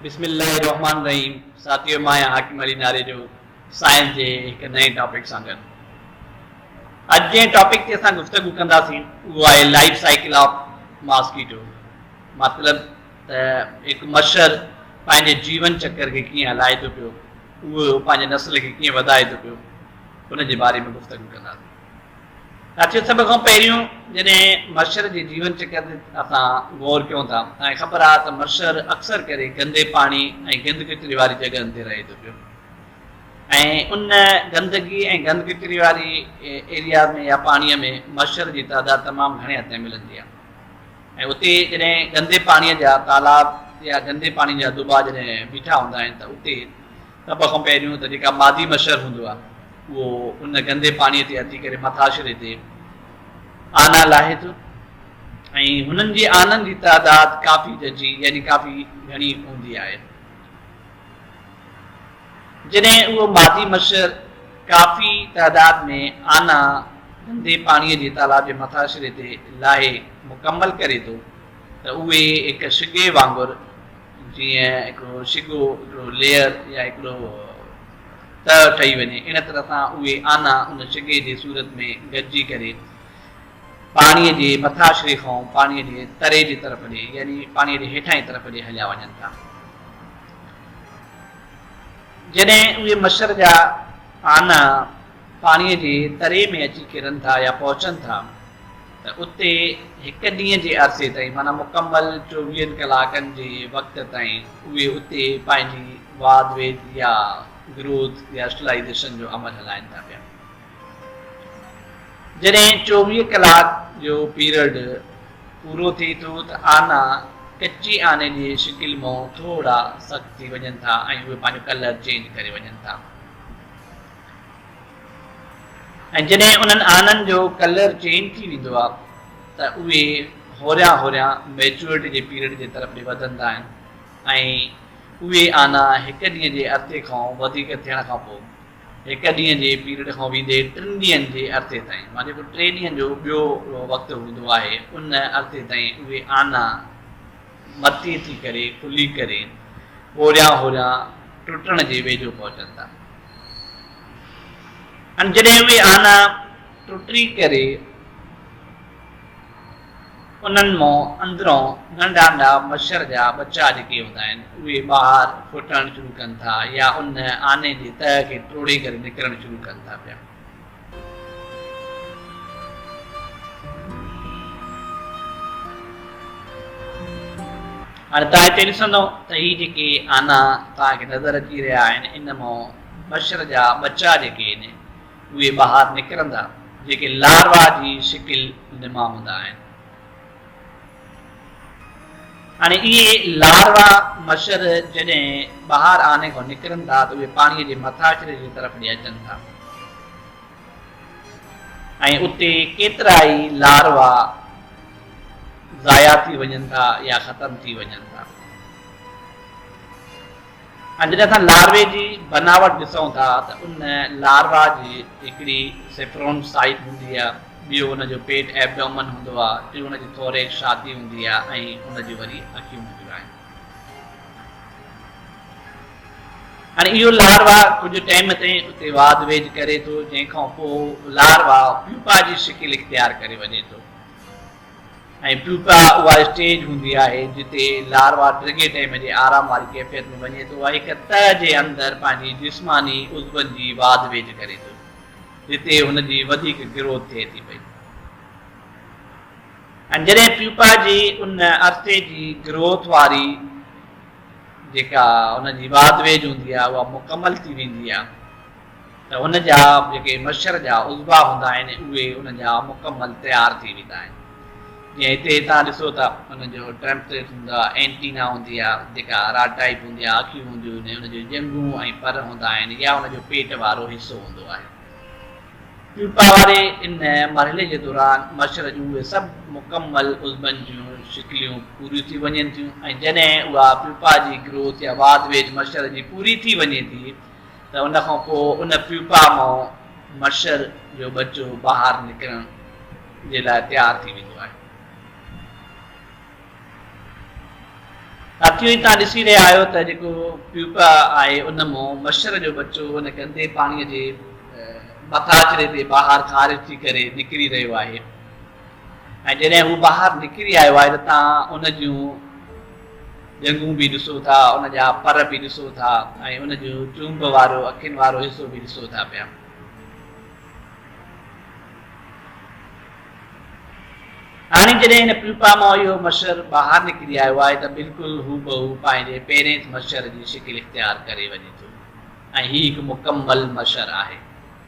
بسم الله الرحمٰن الرحيم ساٿيو مان آهيان حاڪم علي ناريجو سائنس جي هڪ نئين ٽاپڪ سان گڏ اڄ جنهن ٽاپڪ تي اسان گفتگو ڪنداسين اهو آهي لائف سائيڪل آف ماسڪيٽو مطلب ته هڪ مڇر پنهنجي جيون چڪر کي ڪيئن هلائي ٿو پيو اهو پنهنجي نسل کي ڪيئن وڌائي ٿو پيو ان جي باري ۾ گفتگو ڪنداسين ساٿيو سڀ کان پهريون جڏهن مشر جي جيون چڪر تي اسان غور ڪيون ٿا ۽ خبر آهي ته مشر اڪثر ڪري گندي پاڻي ۽ گند ڪچري واري جڳهن تي رهي ٿو پيو ۽ ان گندگي ۽ گند ڪچري واري ايريا ۾ يا پاڻي ۾ مشر جي تعداد تمام گهڻي حد تائين ملندي آهي ۽ اتي جڏهن گندي پاڻي جا تالاب يا گندي پاڻي جا دٻا جڏهن بيٺا هوندا آهن ته اتي سڀ کان پهريون ته جيڪا مادي مڇر هوندو آهي اهو ان گندي پاڻي تي اچي ڪري مٿاڇري تي آنا لاهي ٿو ۽ هنن جي آنن جي تعداد ڪافي ججي يعني ڪافي گهڻي هوندي آهي جڏهن اهو مادي مڇر ڪافي تعداد ۾ آنا گندي پاڻي جي تالاب جي مٿاڇري تي لاهي مڪمل ڪري ٿو ته اهي هڪ شگي وانگر جيئن هڪڙو شگو، هڪڙو ليئر يا هڪڙو تهه ٺهي وڃي، ان طرح سان اهي آنا ان شگي جي صورت ۾ گڏجي ڪري پاڻيء جي مٿاڇري کان پاڻيء جي تري جي طرف ڏي يعني پاڻيء جي هيٺانهين طرف ڏي هليا وڃن ٿا. جڏهن اهي مڇر جا آنا پاڻيء جي تري ۾ اچي ڪرن ٿا يا پهچن ٿا، ته اتي هڪ ڏينهن جي عرصي تائين معنيٰ مڪمل چوويهن ڪلاڪن جي وقت تائين اهي اتي پنهنجي واڌ ويڌ يا گروٿ يا اسٽلائيزيشن جو عمل هلائين ٿا پيا. جڏهن چوويهه ڪلاڪ جو پيرڊ پورو ٿئي ٿو ته آنا ڪچي آني جي شڪل مئون ٿورڙا سخت ٿي وڃن ٿا ۽ اهي پنهنجو ڪلر چينج ڪري وڃن ٿا. ۽ جڏهن انهن آنن جو ڪلر چينج ٿي ويندو آهي ته اهي هوريان هوريان ميچوئرٽي جي پيريڊ جي طرف ڏي وڌندا آهن ۽ اهي آنا هڪ ڏينهن جي عرصي کان وڌيڪ ٿيڻ کان پوء هڪ ڏينهن جي پيريڊ کان ويندي ٽن ڏينهن جي عرصي تائين مان جيڪو ٽي ڏينهن جو ٻيو وقت هوندو آهي ان عرصي تائين اهي آنا متي ٿي ڪري ڪلي ڪري هوريان هوريان ٽٽڻ جي ويجهو پهچن ٿا ۽ جڏهن اهي آنا ٽٽي ڪري انهن مون اندرون ننڍا ننڍا مڇر جا ٻچا جيڪي هوندا آهن اهي ٻاهر ڦٽڻ شروع ڪن ٿا يا ان آني جي تهه کي ٽوڙي ڪري نڪرڻ شروع ڪن ٿا پيا هاڻي توهان هتي ڏسندئو ته هي جيڪي آنا توهان کي نظر اچي رهيا آهن ان مان مڇر جا ٻچا جيڪي آهن اهي ٻاهر نڪرندا جيڪي لاروا جي شڪل ۾ هوندا آهن. هاڻي اهي لاروا مڇر جڏهن ٻاهر آني کان نڪرن ٿا ته اهي پاڻي جي مٿاڇري جي طرف ڏي اچن ٿا ۽ اتي ڪيترائي لاروا ضايع ٿي وڃن ٿا يا ختم ٿي وڃن ٿا ۽ جڏهن اسان لاروا جي بناوٽ ڏسون ٿا ته ان لاروا جي هڪڙي سيفرون سائيٽ هوندي آهي، ٻيو ان جو پيٽ Abdomen هوندو آهي، ٽيون ان جي ٿوريڪس ڇاتي هوندي آهي ۽ ان جون وري اکيون هونديون آهن. هاڻي اهو لاروا ڪجهه ٽيم تائين اتي واڌ ويجهه ڪري ٿو جنهن کان پوء لاروا پيوپا جي شڪل اختيار ڪري وڃي ٿو. ۽ پيوپا اها اسٽيج هوندي آهي جتي لاروا ڊگهي ٽيم جي آرام واري ڪيفيت ۾ وڃي ٿو ۽ هڪ تهه جي اندر پنهنجي جسماني عضون جي واڌ ويجهه ڪري ٿو جتي هن جي وڌيڪ گروٿ ٿئي ٿي پئي ۽ جڏهن پيوپا جي ان عرصي جي گروٿ واري جيڪا هن جي واڌ ويجهه هوندي آهي اها مڪمل ٿي ويندي آهي ته هن جا جيڪي مشر جا عضوا هوندا آهن اهي ان جا مڪمل تيار ٿي ويندا آهن جيئن هتي توهان ڏسو ته ان جو ٽرمپريٽ هوندو آهي اينٽينا هوندي آهي جيڪا راڊ ٽائيپ هوندي آهي اکيون هونديون آهن ان جون ڄنگهون ۽ پر هوندا آهن يا ان جو پيٽ وارو حصو هوندو آهي پيوپا واري ان مرحلي جي دوران مشر جون اهي سڀ مڪمل عضبن جون شڪليون پوريون ٿي وڃن ٿيون ۽ جڏهن اها پيوپا جي گروٿ يا واڌ ويجهه مشر جي پوري ٿي وڃي ٿي ته ان کان پوء ان پيپا مان مڇر جو ٻچو ٻاهر نڪرڻ جي لاء تيار ٿي ويندو آهي. ساٿيو هي توهان ڏسي رهيا آهيو ته جيڪو پيپا آهي ان مان مڇر جو ٻچو ان گندي پاڻي جي مٿاڇري تي ٻاهر خارج ٿي ڪري نڪري رهيو آهي. ۽ جڏهن هو ٻاهر نڪري آيو آهي ته توهان ان جون ڄنگهون به ڏسو ٿا، ان جا پر به ڏسو ٿا ۽ ان جو چونب وارو اکين وارو حصو به ڏسو ٿا پيا. هاڻي جڏهن هن پيوپا مان اهو مڇر ٻاهر نڪري آيو آهي ته بلڪل هوبهو پنهنجي پيرينس مڇر جي شڪل اختيار ڪري وڃي ٿو ۽ هي هڪ مڪمل مڇر آهي.